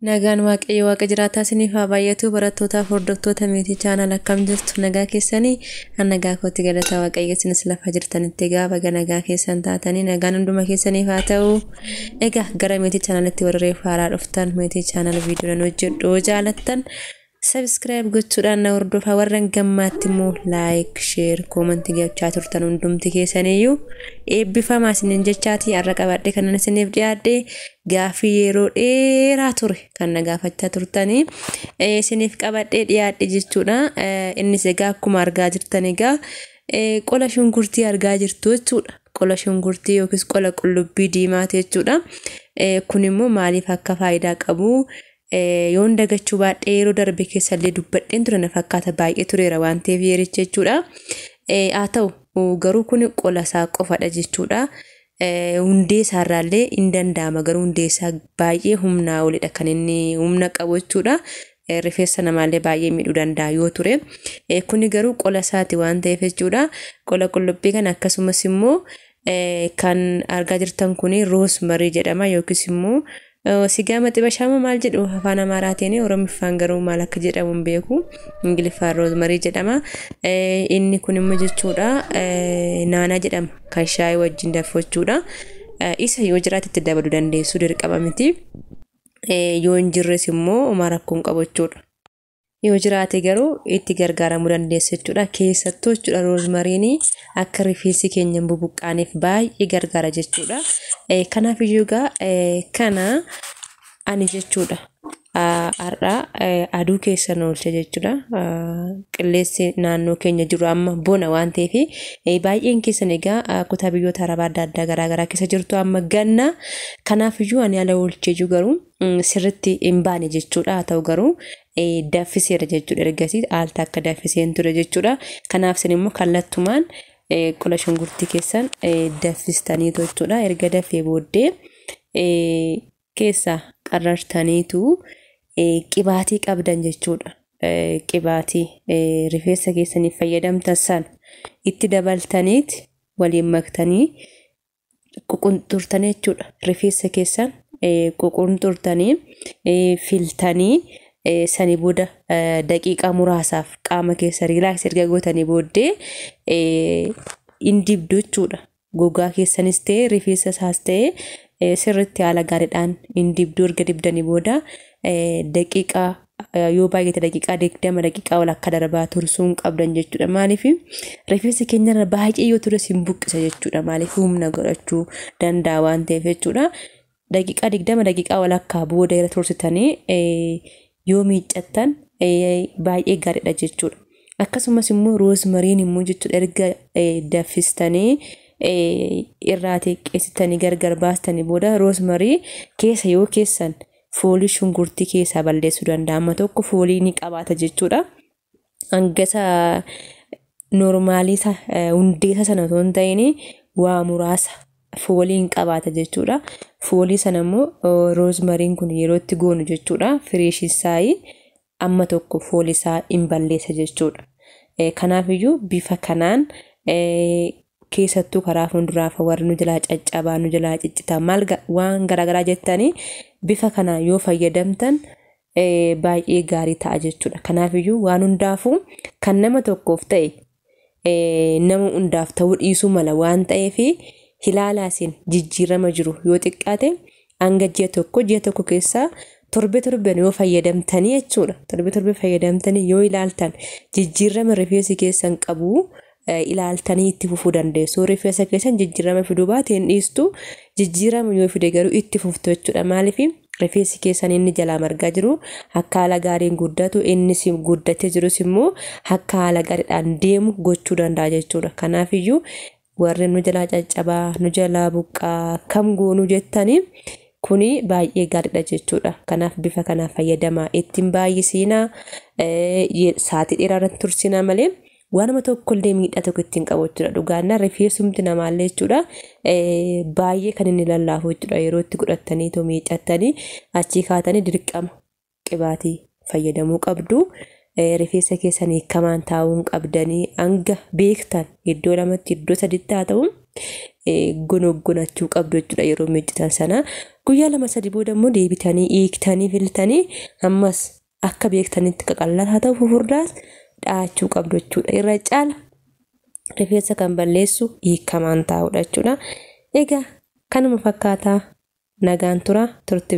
Nagaan waaqayyo waaqa jiraataa isiniif haa baay'atu barattootaaf hordoftoota meetii chaanal akkam jirtu nagaa keessanii an nagaa kootti galataa waaqayyo isinis lafa jirtanitti egaa baga nagaa keessan taatanii nagaan hunduma keessaniif haa ta'u egaa gara meetii chaanalitti warra reef haaraa dhuftan meetii chaanal viidiyoo nan hojjedhu jaalattan Subscribe gochuudhaan na hordofaa warran gammaatti immoo like, share, comment gochaa turtan hundumti keessaniyyuu eebbifamaa isiniin jechaatii har'a qabadhee kanan isiniif dhiyaadhe gaaffii yeroo dheeraa ture kan na gaafachaa turtanii eh, isiniif qabadhee dhiyaadhe jechuudha. Eh, Innis egaa akkuma argaa jirtan egaa eh, qola shunkurtii argaa jirtu jechuudha. Qola shunkurtii yookiis qola qullubbii diimaati jechuudha. Eh, Kun immoo maaliif akka faayidaa qabu Yoon dagachuu baadhee yeroo darbe keessa illee dubbadheen ture na fakkaata baay'ee tureera waan ta'eef yeericha jechuudha. Haa ta'u garuu kun qola isaa qofadha jechuudha. Hundee isaa irraa illee hin danda'ama garuu hundee isaa baay'ee humnaa olidha kan inni humna qabu jechuudha. Rifeensa namaa illee baay'ee miidhuu danda'a yoo ture. Kuni garuu qola isaati waan ta'eef jechuudha. Qola qullubbii kana akkasumas immoo Kan argaa jirtan kun roosmarii jedhama yookiis immoo sigaa maxibashaama maal jedhu afaan amaaraatiin oromiffaan garuu maal akka jedhamu hin beeku ingiliffaan roosmarii jedhama inni kun immoo jechuudha naanaa jedhama kan shaayii wajjin danfachuudha isa yoo jiraate itti dabaluu dandeessu dirqama miti yoo hin jirres immoo homaa rakkoon qabachuudha. Yoo jiraate garuu itti gargaaramuu dandeessa jechuudha. Keessattuu jechuudha roozmariinii akka rifeensi keenya hin bubuqqaaneef baay'ee gargaara jechuudha. Kanaaf iyyuu egaa kana ani jechuudha. Har'a aduu keessa nu oolcha jechuudha. Qilleensi naannoo keenya jiru amma bona waan ta'eef baay'een keessan egaa kutaa biyyoota arabaa adda addaa garaagaraa keessa jirtu amma ganna. Kanaaf iyyuu ani ala oolchee jiru garuu sirritti hin baane jechuudha haa ta'u garuu daffiseera jechuudha ergasii al takka daffiseen ture jechuudha kanaaf isin immoo kallattumaan qola shunkurtii keessan daffistaniitu jechuudha erga dafee booddee keessa qarrartaniitu qibaatii qabdan jechuudha qibaatii rifeensa keessaniif fayyadamtan san itti dabaltaniiti waliin maktanii ququnxurtanii jechuudha. Rifeensa keessan ququnxurtanii filtanii sanii booda daqiiqaa muraasaaf qaama keessa riilaaks erga gootanii booddee in dibdu jechuudha. Gogaa keessanis ta'e rifeensa isaas ta'e sirriitti haala gaariidhaan in dibdu erga dibdanii booda daqiiqaa yoo baay'ate daqiiqaa digdama daqiiqaa walakkaa darbaa tursuu hin qabdan jechuudha maaliif rifeensa keenyarra baay'ee yoo tures hin buqqisa jechuudha maaliif humna godhachuu danda'a waan ta'eef jechuudha daqiiqaa digdama daqiiqaa walakkaa booda irra tursitanii yoo miiccattan baay'ee gaariidha jechuudha akkasumas immoo roozmariin immoo jechuudha erga daffistanii irraa xiqqeessitanii gargar baastanii booda roozmarii keessa yoo keessan foolii shunkurtii keessaa balleessuu danda'a. Amma tokko foolii ni qabaata jechuudha. Hangasa noormaalii isa hundeessa sana osoo hin ta'in waa muraasa foolii hin qabaata jechuudha. Foolii sana immoo roozmariin kun yeroo itti goonu jechuudha. Fireeshisaayii amma tokko fooli isaa in balleessa jechuudha. Kanaaf iyyuu bifa kanaan keessattuu karaa fuulduraafa warri nu jalaa caccabaa nu jalaa ciccitaa maal waan garaagaraa jettanii bifa kana yoo fayyadamtan baay'ee gaarii ta'a jechuudha. Kanaaf iyyuu waan hundaafuu kan nama tokkoof ta'e nama hundaaf ta'uu dhiisuu mala waan ta'eef hilaalaasiin jijjiirama jiru yoo xiqqaate hanga ji'a tokko ji'a tokko keessaa torbe torben yoo fayyadamtanii jechuudha torbe torbe fayyadamtanii yoo ilaaltan jijjiirama rifeensi keessan qabu ilaaltanii itti fufuu dandeessu rifeensa keessan jijjiirama fiduu baateen dhiistu jijjiirama yoo fide garuu itti fuftu jechuudha maaliif rifeensi keessan inni jalaa margaa jiru akka haala gaariin guddatu innis guddatee jirus immoo akka haala gaariidhaan deemu gochuu danda'a jechuudha kanaaf iyyuu warri nu jalaa caccabaa nu jalaa buqqaa kam goonuu jettanii kuni baay'ee gaariidha jechuudha kanaaf bifa kanaa fayyadamaa ittiin baay'isiinaa saatii dheeraa irratti tursinaa malee waanuma tokkollee miidhaa tokko ittiin qabu jechuudha. Dhugaanna rifeensumti namaallee jechuudha baay'ee kan inni lallaafu jechuudha. Yeroo itti godhattanii too miicattanii achii kaatanii dirqama qibaatii fayyadamuu qabdu. Rifeensa keessan hiikamaan taa'uun qabdanii hanga beektan iddoo lamatti iddoo saditti haa ta'u gonoggonachuu qabdu jechuudha yeroo miiccitan sana. Guyyaa lama sadi booda immoo deebitanii hiiktanii filtanii ammas akka beektanitti qaqallaan haa ta'u fufurdaas dhahachuu qabdu jechuudha. Irra caala rifeensa kan balleessu hiikamaan taa'udha jechuudha. Egaa kanuma fakkaataa nagaan tura turte.